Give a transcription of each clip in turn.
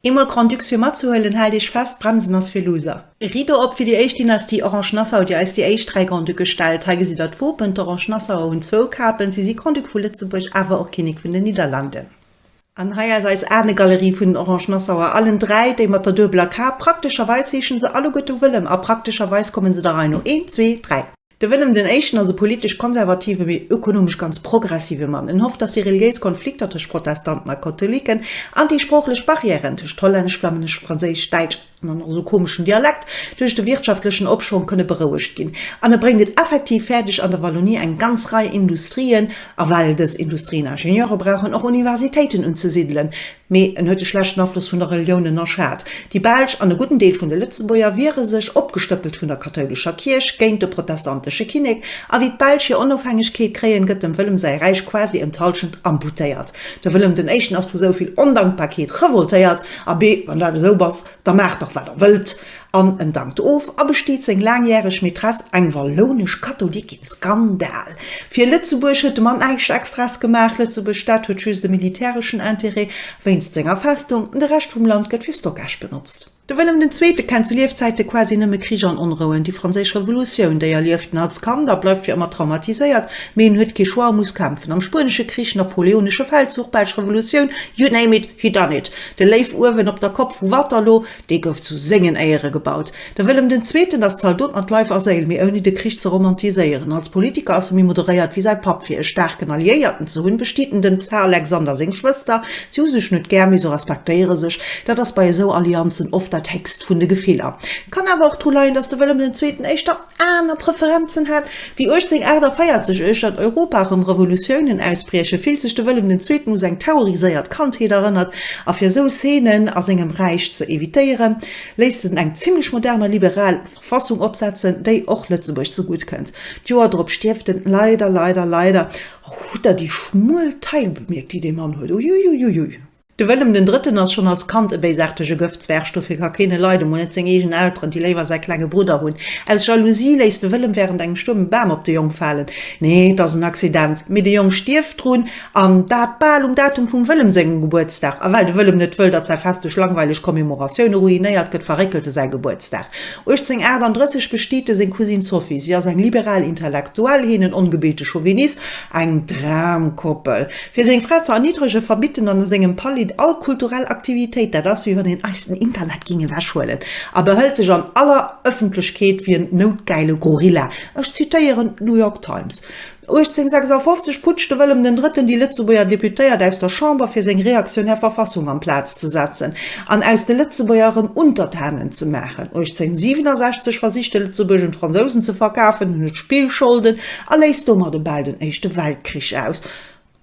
Eemol Grand-Ducs fir matzehuelen, haalt Iech fest, Bremsen ass fir Loser! Rideau op fir déi éischt Dynastie Orange-Nassau, déi eis déi éischt dräi Grand-Ducke gestellt. Hei gesitt der d'Wopen, D'Orange-Nassauer hunn zwou Kapen, si si Grand-Duc vu Lëtzebuerg, awer och Kinnek vun den Niederlanden. An hei ass eis Anegalerie vun den Orange-Nassauer, allen dräi, déi mat der duebeler Kap. Praktescherweis heeschen se alleguerte Wëllem a praktescherweis kommen se der Rei no, een, zwee, dräi. De Willem den Éischten ass e politesch konservative mee ökonomesch ganz progressive Mann. En hofft, datt déi reliéis Konflikter tëscht Protestanten a Katholiken an déi sproochlech Barrièren tëscht Hollännesch, Flammännesch, Franséisch, Däitsch an och nach esou komeschen Dialekt duerch de wirtschaftlechen Opschwong kënne berouegt ginn. An e bréngt et effektiv fäerdeg, an der Wallonie eng ganz Rei Industrien, a well dës Industrien Ingenieure brauchen, och Universitéiten unzesiddelen. Mee en huet e schlechten Afloss vun der Relioun ënnerschat. Déi Belsch an e gudden Deel vun de Lëtzebuerger wiere sech, opgestëppelt vun der kathoulescher Kierch, géint de protestantesche Kinnek. A wéi d'Belsch hir Onofhängegkeet kréien, gëtt dem Wëllem säi Räich quasi enthallschent amputéiert. De Wëllem den Éischten ass vu souvill Ondankbarkeet revoltéiert, Abee, wann dat esou ass, da maacht dach wat der wëllt, An en dankt of a besteet seng laangjäreg Maîtress, eng wallounesch Katholikin. Skandal! Fir Lëtzebuerg huet de Mann näischt Extraes gemaach. Lëtzebuerg Stad huet just e militäreschen Interêt wéinst senger Festung. De Rescht vum Land gëtt fir Stockage benotzt. De Wëllem den Zweete kennt zu Liefzäite quasi nëmme Krich an Onrouen. Déi Franséisch Revolutioun, déi erlieft en als Kand a bleift fir ëmmer traumatiséiert. Mee en huet kee Choix a muss kämpfen. Am Spuenesche Krich, Napoleonesche Feldzuch, Belsch Revolutioun, you name it, he done it. De Léiw uewen op der Kopp vu Waterloo, Dee gouf zu sengen Éiere gebaut. De Wëllem den Zweeten ass Zaldot mat Leif a Séil, mee ouni de Krich ze romantiséieren. Als Politiker ass e méi moderéiert wéi säi Papp. Fir e staarken Alliéierten ze hunn, bestiet en dem Zar Alexander seng Schwëster. Si hu sech net gär, mee se respektéiere sech. Dat ass bei esou Allianzen oft dat héchst vun de Gefiller. Kann awer och dru leien, datt de Wëllem den Zweeten éischter. aner Preferenzen hat, wéi 1848, uecht datt Europa erëm Revolutiounen ausbriechen, fillt sech de Wëllem den Zweeten u seng terroriséiert Kandheet erënnert, a fir esou Szenen a sengem Räich ze evitéieren, léisst en eng zimlech modern a liberal Verfassung opsetzen, déi och Lëtzebuerg ze gutt kënnt. D'Joer drop stierft en leider, leider, leider. Hutt der déi schmuel Taille bemierkt, déi dee Mann huet? Uiuiuiui! De Wëllem den Drëtten ass schonn als Kand e béisaartege Gëftzwerg, dofir ka keen e leiden, mol net seng eegen Elteren, déi léiwer säi klenge Brudder hunn. Aus Jalousie léisst de Wëllem wärend engem Stuerm e Bam op de Jong falen. Nee, et ass en Accident, mee de Jong stierft drun, an dat bal um Datum vum Wëllem sengem Gebuertsdag. A well de Wëllem net wëll, datt säi Fest duerch langweileg Commemoratioune ruinéiert gëtt, verréckelt e säi Gebuertsdag. 1838 bestiet e seng Cousine Sophie. Si ass eng liberal Intellektuell, hien en ongebilte Chauvinist. Eng Dramkoppel. Fir seng Fra ze erniddregen, verbidden en a sengem Palid all kulturell Aktivitéit. Dat ass, wéi wann een eis den Internet ging ewechhuelen. A behëlt sech an aller Ëffentlechkeet wéi en noutgäile Gorilla. Ech zitéieren d'New York Times. 1856 putscht de Wëllem den Drëtten déi Lëtzebuerger Deputéiert aus der Chamber, fir seng reaktionär Verfassung an d'Plaz ze setzen an aus de Lëtzebuerger erëm Untertanen ze maachen. 1867 versicht de Lëtzebuerg un d'Fransousen ze verkafen, hunn et Spillscholden a léist domat e bal den Éischte Weltkrich aus.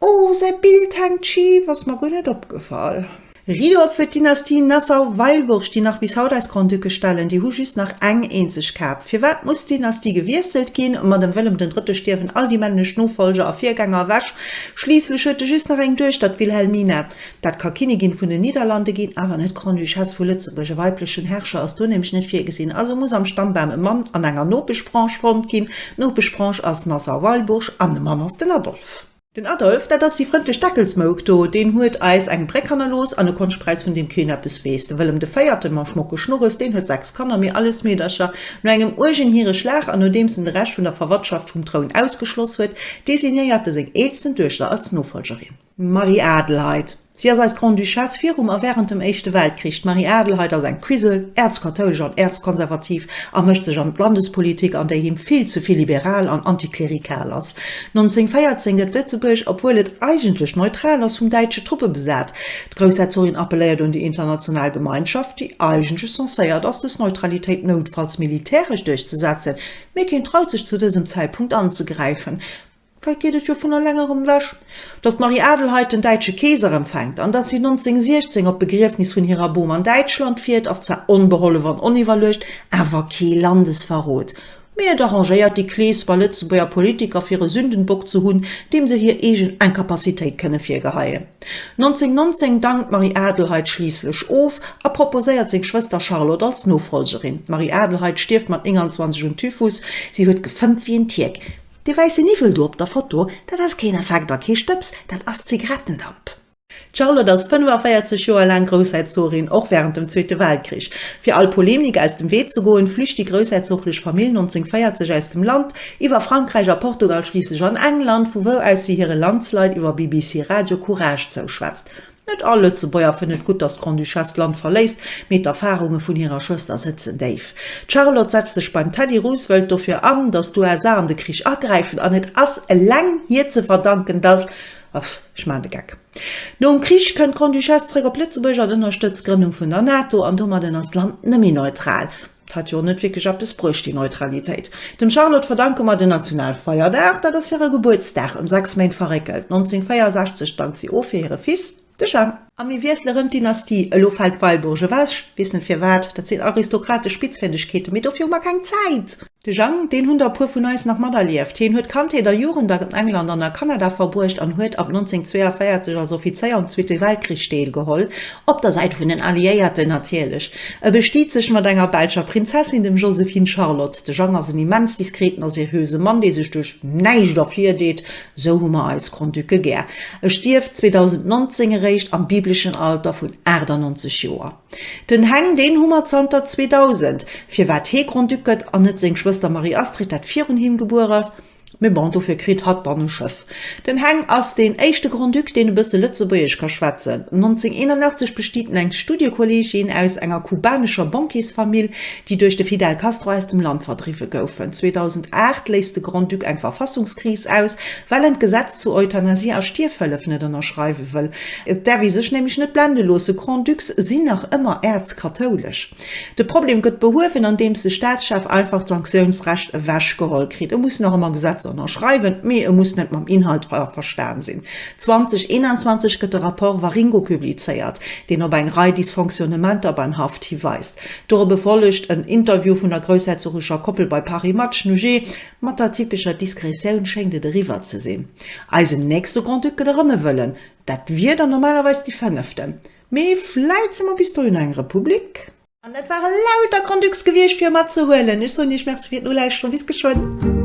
Oh, säi Bild hänkt schif, ass mer guer net opgefall. Rido fir d'Dynastie Nassau-Weilburg, déi nach bis haut eis Grand-Ducke stellen, déi hu just nach eng eenzeg Kap. Firwat muss d'Dynastie gewiesselt ginn? Ma dem Wëllem den Drëtte stierwen all déi männlech Nofollger a Virgänger ewech, schliisslech huet e just nach eng Duechter, d'Wilhelmina. Dat ka Kinnigin vun den Niederlande ginn, awer net Grande-Duchesse vu Lëtzebuerg. E weiblechen Herrscher ass do nämlech net virgesinn. Also muss am Stammbam e Mann an enger Nopeschbranche fonnt ginn. D'Nopeschbranche ass Nassau-Weilburg an de Mann ass den Adolphe. Den Adolphe, dat ass déi frëndlech Deckelsmouk do, deen huet eis eng Bréck hannerlooss an e Konschtpräis, vun deem keen eppes weess. De Wëllem de Véierten, mam schmocke Schnurres, deen huet sechs Kanner, mee alles Meedercher. No engem uergen Hireschlag an nodeems en de Rescht vun der Verwandtschaft vum Troun ausgeschloss huet, designéiert e seng eelsten Duechter als Nofolgerin. D'Marie-Adelheid. Si ass eis Grande-Duchesse virum a wärend dem Éischte Weltkrich. D'Marie-Adelheid ass eng Quisel, äerzkathoulesch an äerzkonservativ, a mëscht sech an d'Landespolitik an, déi him vill ze vill liberal an antiklerikal ass. 1914 gëtt Lëtzebuerg, obwuel et eigentlech neutral ass, vum däitsche Truppe besat. D'Groussherzogin appelléiert un déi international Gemeinschaft, déi eigentlech censéiert ass, dës Neutralitéit noutfalls militäresch duerchzesetzen, mee keen traut sech zu dësem Zäitpunkt anzegräifen. Vläicht geet et jo vun elengerem ewech, datt d'Marie-Adelheid den däitsche Keeser empfänkt. An datt si 1916 op d'Begriefnis vun hirer Bom an Däitschland fiert, ass zwar onbehollef an oniwwerluecht, awer kee Landesverrot. Mee et arrangéiert déi Kleesper Lëtzebuerger Politiker fir e Sündenbock ze hunn, deem se hir eegen Incapacitéit kënne virgeheien. 1919 dankt d'Marie-Adelheid schliisslech of a proposéiert seng Schwëster Charlotte als Nofollgerin. D'Marie-Adelheid stierft mat 29 un Typhus. Si huet gefëmmt wéi en Tierk. Dee wäisse Niwwel do op der Foto, dat ass keen Effekt a kee Stëbs, dat ass Zigarettendamp. D'Charlotte ass 45 Joer laang Groussherzogin, och wärend dem Zweete Weltkrich. Fir all Polemik aus dem Wee ze goen, flücht déi groussherzoglech Famill 1940 aus dem Land, iwwer Frankräich a Portugal schliisslech an England, vu wou aus si hire Landsleit iwwer BBC Radio Courage zouschwätzt. Net all Lëtzebuerger fënnt et gutt, datt d'Grande-Duchesse d'Land verléisst, mee d'Erfarunge vun hirer Schwëster sëtzen déif. D'Charlotte setzt sech beim Teddy Roosevelt dofir an, datt d'USA an de Krich agräifen, an et ass eleng hir ze verdanken, datt, Aff, ech maachen de Geck. Nom Krich kënnt d'Grande-Duchesse zeréck op Lëtzebuerg an ënnerstëtzt d'Grënnung vun der NATO, an domadden ass d'Land net méi neutral. 't hat jo net wierklech eppes bruecht, déi Neutralitéit. Dem Charlotte verdanke mer den Nationalfeierdag, dat ass hire Gebuertsdag, ëm sechs Méint verréckelt, 1964 dankt si of fir hire Fils, de Jean. A mir wiessele rëm d'Dynastie, elo fält d'Weilburg ewech, weess net firwat, dat sinn aristokratesch Spitzfindegkeeten, mee dofir hu mer keng Zäit. De Jean, deen hunn der e puer vun eis nach materlieft, hien huet Kandheet a Jugend an England an a Kanada verbruecht an huet ab 1942 als Offizéier um Zweete Weltkrich deelgeholl Op der Säit vun den Alliéierten natierlech. E bestiet sech mat enger belscher Prinzessin, dem Josephine Charlotte. De Jang ass en immens diskreten a seriöse Mann, dee sech duerch näischt ervirdeet. Esou hu mer eis Grand-Ducë gär. E stierft 2019 eréischt am bibleschen Alter vun 98 Joer. Den Heng, deen hu mer zanter 2000. Firwat hee Grand-Duc gëtt an net seng Schwëster Marie-Astrid, dat virun him gebuer ass, Mee bon, dofir kritt hatt dann e Schëff. Den Heng ass deen éischte Grand-Duc, deen e bësse Lëtzebuergesch ka schwätzen. 1981 bestiet en eng Studiekollegin aus enger kubanescher Bankiersfamill, déi duerch de Fidel Castro aus dem Land verdriwwe goufen. 2008 léist de Grand-Duc eng Verfassungskris aus, well en d'Gesetz zu Euthanasie a Stierfhëllef net ënnerschreiwe wëll. Et däerf ee sech nämlech net blende loossen, Grand-Ducs sinn nach ëmmer äerzkathoulesch. De Problem gëtt behuewen, andeems de Staatschef einfach d'Sanktiounsrecht ewech geholl kritt. E muss nach ëmmer Gesetzer ënnerschreiwen, mee e muss net mam Inhalt averstan sinn. 2021 gëtt de Rapport Waringo publizéiert, deen op eng Rei Dysfonctionnementer beim Haft hiweist. Dorop e follegt en Interview vun der groussherzogescher Koppel bei Paris Match Nujee. Mat der typescher Diskretioun schéngt et eriwwer ze sinn. Eisen nächste Grand-Duc gëtt erëm e Wëllen. Dat wier dann normalerweis déi fënneften. Mee vläit si mer bis dohin eng Republik. An dat ware lauter Grand Ducs gewiescht fir e mat ze huelen. Ech soen Iech Merci fir d'Nolauschteren. Bis geschwënn.